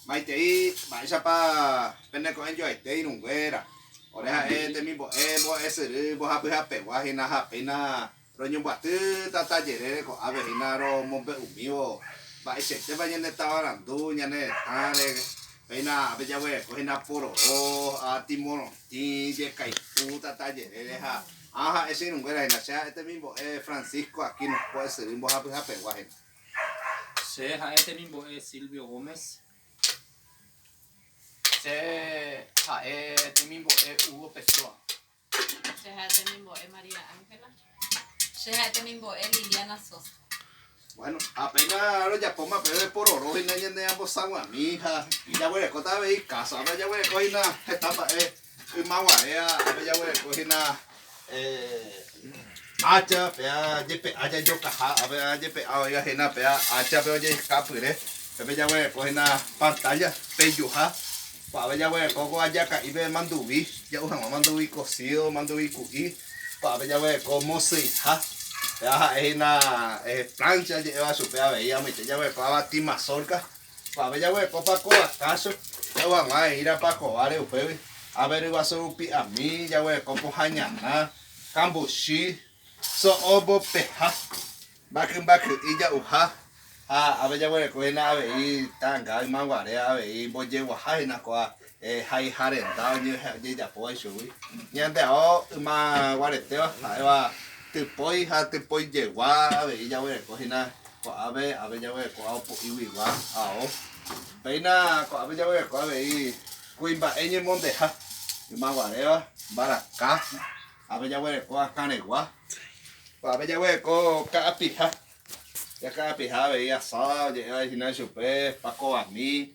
Maitei mba'éichapa pene ko'ẽjoaite irũnguéra. Ore ha'e temimbo'e mbo'esyry mbohapyhapegua hína ha péina roñombyaty tata jerére ko'ápe hína romombe'umívo mba'eichaitépa ñane tavarandu, ñane retãre, péina ápe jaguereko hína pororo, ati morotĩ, jekay'u tata jerére ha ã ha'e che irũnguéra hína. Che ha'e temimbo'e Francisco Aquino mbo'esyry mbohapyhapegua hína. Che ha'e temimbo'e Silvio Gómez. Che ha'e temimbo'e Hugo Pessoa. Che ha'e temimbo'e María Ángela. Che ha'e temimbo'e Liliana Sosa. Bueno, apenas rojapóma pe repororo hína ñande ambosaguami ha jaguerekóta avei kásape, jaguereko hína heta mba'e Yma guare ápe jaguereko hína ácha pe jepe'a jajokaha, ápe jepe'a oĩva hína pe áchape ojeika pyre, pépe jaguereko hína pantálla peijuha, ko'ápe jaguereko ko ajaka'ípe manduvi, ja'u hag̃ua manduvi kosído, manduvi ku'i, ko'ápe jaguereko mosyiha, péva ha'e hína pláncha je'éva chupe avei amoite jaguereko avati mazórka. Upévare jaguerekópa kóva kácho, jaguerekópa hag̃ua he'írapa kováre upégui, ápe ryguasu rupi ami, jaguereko pohã ñana, kambuchi, so'o mbopeha, mbakymbaky'i ja'uha ha ápe jaguereko hína avei ta'anga ymaguare avei mbojeguaha hína kóva Haiha renda ojejapóva ichugui. Ñande ao yma guaretéva ha'éva typói ha typoijegua avei jaguereko hína ko'ápe, ápe jaguereko ao po'íguigua ao. Péina ko'ápe jaguereko avei kuimba'e ñemondeha, yma guaréva, mbaraka, ápe jaguereko akãregua, ko'ápe jaguereko ka'apiha, ka'apiha avei asáda oje'éva hína chupe, pakovami.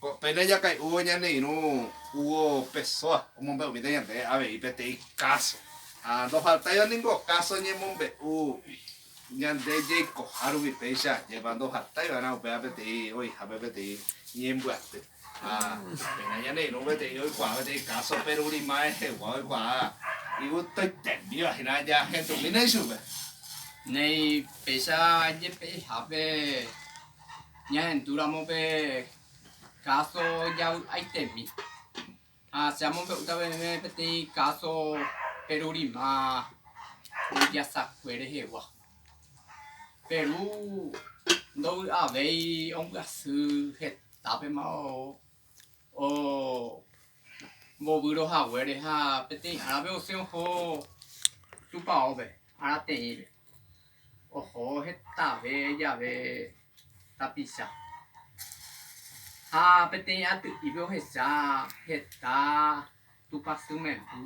Ko pene jakay'úvo ñane irũ Hugo Pessoa omombe'umíta ñande avei peteĩ káso. Ha ndohaltáiva ningo káso ñemombe'u ñande jaikoha rupi péicha ajépa ndohaltái va'erã upéva peteĩ oĩhápe peteĩ ñembyaty. Ha péina ñane irũ peteĩ oikuaa peteĩ káso perúri ma'ẽhegua oikuaa iguto itembíva hína jahendumína ichupe. Néi, péicha jepe'ihápe. Ñahendúramo pe káso javy'aitemi. Ha che amombe'úta peẽme peteĩ káso perurima mbyjasakue rehegua. Peru ndovy'avéi ombyasy hetápema ombovýro haguére ha peteĩ árape osẽ oho tupaópe, ára teĩre. Oho hetave jave tapicha. Ha peteĩ aty'ípe ohecha heta tupãsy memby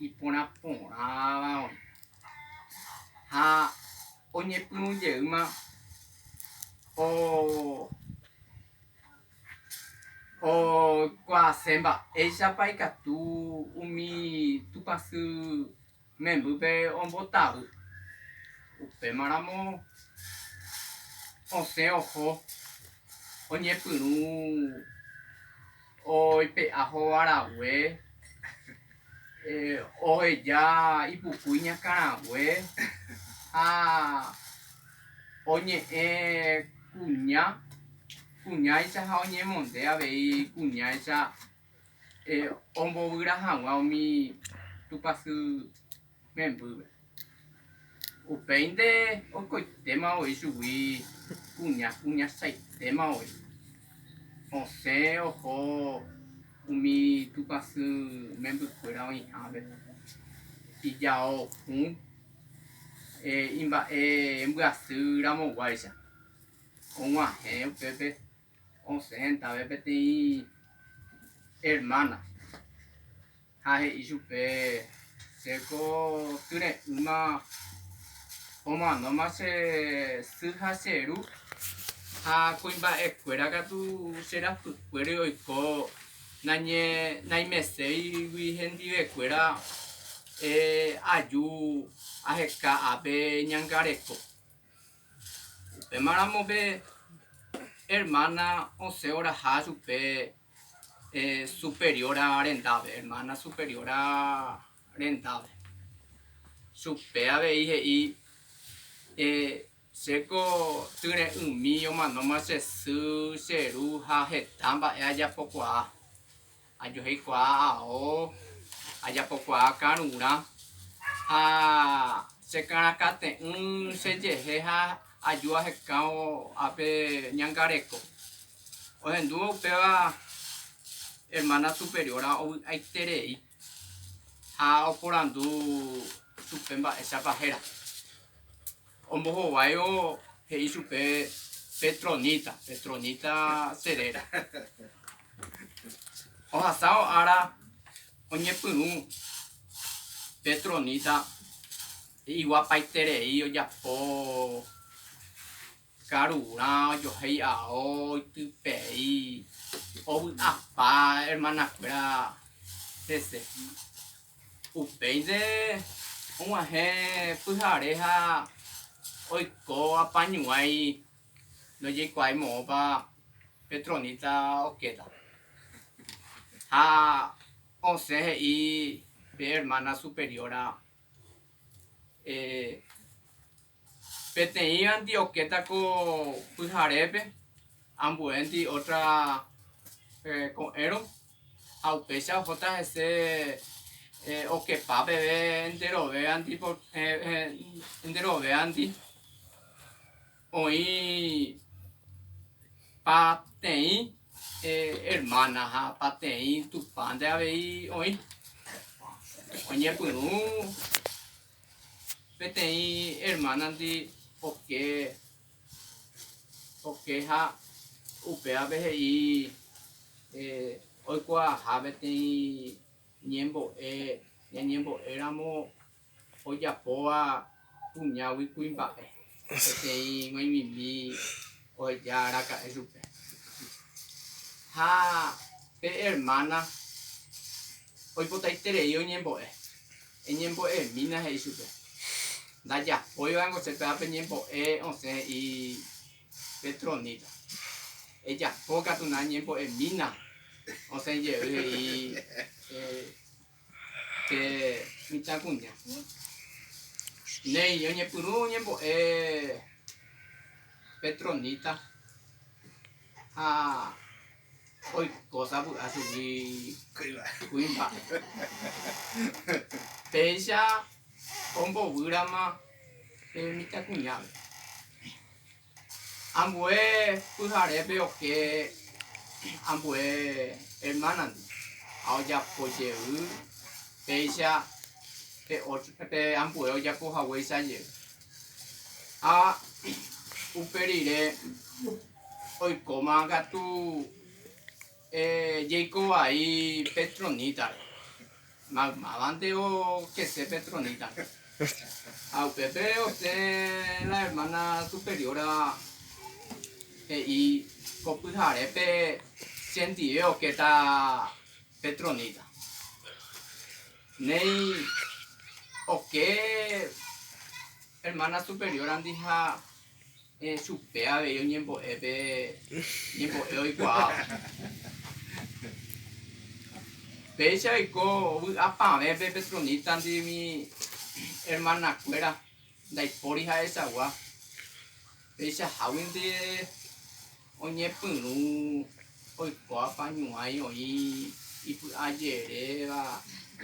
iporã porãva oĩ. Ha oñepyrũ jeýma okuaase mba'éichapa ikatu umi tupãsy Membýpe ombotavy. Upémaramo osẽ oho oñepyrũ oipe'a hóva rague, oheja ipuku iñakãrague ha oñe'ẽ kuña kuñáicha ha oñemonde avei kuñáicha ombovyra hag̃ua umi tupãsy membýpe. Upéinte oikoitéma voi chugui kuña kuñachaitéma voi. Osẽ oho umi tupãsy membykuéra oĩhápe, ijao hũ, imba'e mbyasy ramoguáicha. Og̃uahẽ upépe Osẽ hendave peteĩ ermána ha he'i chupe, Che ko tyre'ỹma omanóma che sy ha che ru, ha kuimba'ekuéra katu che rapykuéri oiko naimeséigui hendivekuéra aju aheka ápe ñangareko. Upéma ramo pe hermana osẽ oraha chupe superiora rendápe, hermana superiora rendápe. Chupe avei he'i, chéko tyre'ỹmi omanóma che sy, che ru ha heta mba'e ajapokuaa. Ajoheikuaa ao, ajapokuaa karurã, ha chekarakate'ỹ che jehe ha aju ahekãvo ápe ñangareko. Ohendúvo upéva hermana superiora ovy'aiterei ha oporandu chupe mba'éichapa héra. Ombohováivo he'i chupe Petronita, Petronita che réra. Ohasávo ára oñepyrũ Petronita iguapaiterei ojapo karurã ojohéi ao itypei ovy'apa hermana-kuéra hese. Upéinte og̃uahẽ pyhare ha oiko apañuãi ndojeikuaái moõpa pe tronista okéta. Ha osẽ he'i pe ermána superióra, Peteĩvanti okéta ko pyharépe ambuénti ótra ko'ẽrõ, ha upéicha ohóta hese okepa peve enterovévanti, enterovévanti oĩ pateĩ ermána ha pateĩ Tupãnte avei oĩ oñepyrũ. Peteĩ ermánandi oke, okeha upévape he'i oikuaaha peteĩ ñembo'e, ñañembo'éramo ojapóva kuñágui kuimba'e, peteĩ g̃uaig̃uimi oheja araka'e chupe. Ha pe ermána oipotaiterei oñembo'e. Eñembo'emína he'i chupe. Ndajapói va'ekue che péva pe ñembo'e osẽ he'i Petronila. Ejapo katu na ñembo'emína osẽ jey he'i pe mitãkuña. Néi oñepyrũ ñembo'e Petronila ha Oikóta vy'a chugui kuimba. Péicha ombovýrama pe mitãkuñápe. Ambue pyharépe oke ambue ermánandi ha ojapo jey péicha pe ambue ojapo haguéicha jey. Ha upe rire. Oikóma katu jeiko vai Petronítape, maymávante okese Petronítape. Ha upépe osẽ la ermána superióra he'i ko pyharépe chendive okéta Petroníta. Néi oke ermána superiórandi ha. He'i chupe avei oñembo'e pe ñembo'e oikuaáva. Péicha oiko vy'apavẽpe pe troníntandi umi ermanakuéra ndaipóri ha'echagua, peichaháguinte oñepyrũ oikóva ñuãi oĩ ipy'ajeréva,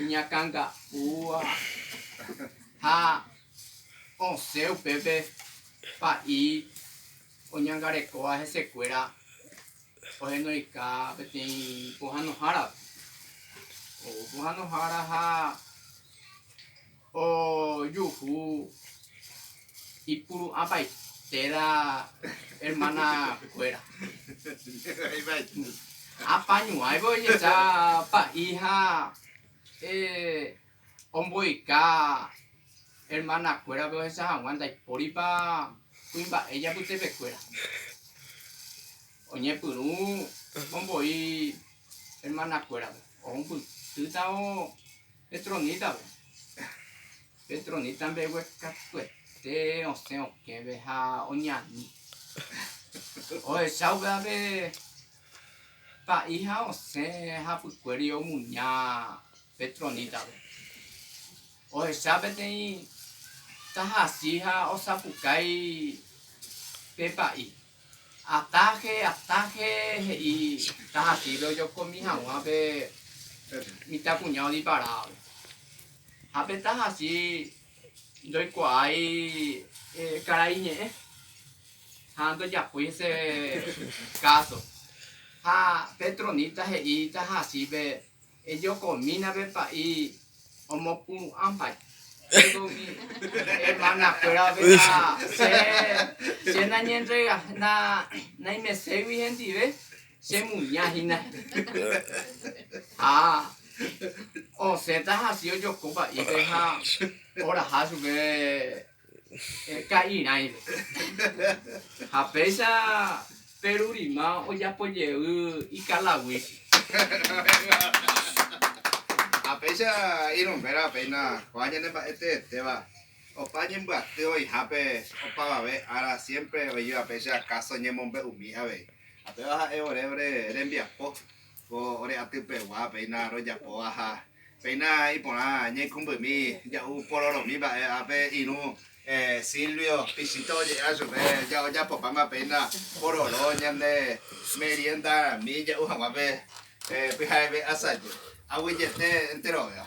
iñakãnga'úva ha Osẽ upépe pa'i oñangarekóva hesekuéra ohenoika peteĩ pohãnohárape. Ou pohãnohára ha ojuhu ipuru'ãpaite térã hermana kuéra. Apañuáivo ojecha pa'i ha eh Omboyka hermanakuérape ohecha hag̃ua ndaipóripa kuimba'e japytepekuéra. Oñepyrũ omboi hermanakuérape, ohumpytýtavo pe tronítape. Pe tronita mbegue katuete osẽ okẽve ha oñani. Ohecha upévape pa'i ha osẽ hapykuéri omuña. Petronita-pe. Ohecha peteĩ tahachi ha osapukái pe pa'i. Ataje, ataje, he'i tahachípe ojokomi hag̃ua pe mitãkuña odiparávape. Ha pe tahachi ndoikuaái karai ñe'ẽ ha ndojapói hese káso. Ha Petronita he'i tahachípe, Ejokomína pe pa'i omopuru'ãmpa péro umi ermanakuéra veta che nañentrega, naimeségui hendive, chemuña hína. Ha osẽta hasy ojoko pa'ípe ha oraha chupe Ka'irãime. Ha péicha Perurima ojapojey Ikalaguichi. Ha péicha irũmbéra péina ko'ã ñane mba'e teetéva opa ñembyaty oĩhápe opavave ára siempre oĩva péicha káso ñemombe'umi avei. Ha péva ha'e ore ore rembiapo Ko ore aty pegua péina rojapóva ha péina iporã ñaikumbymi ja'u pororomi mba'e ápe irũ Silvio Pichito oje'éva chupe jajapopáma péina pororo ñande meriendami ja'u haguápe pyha'eve asajy aguyete enterovéva.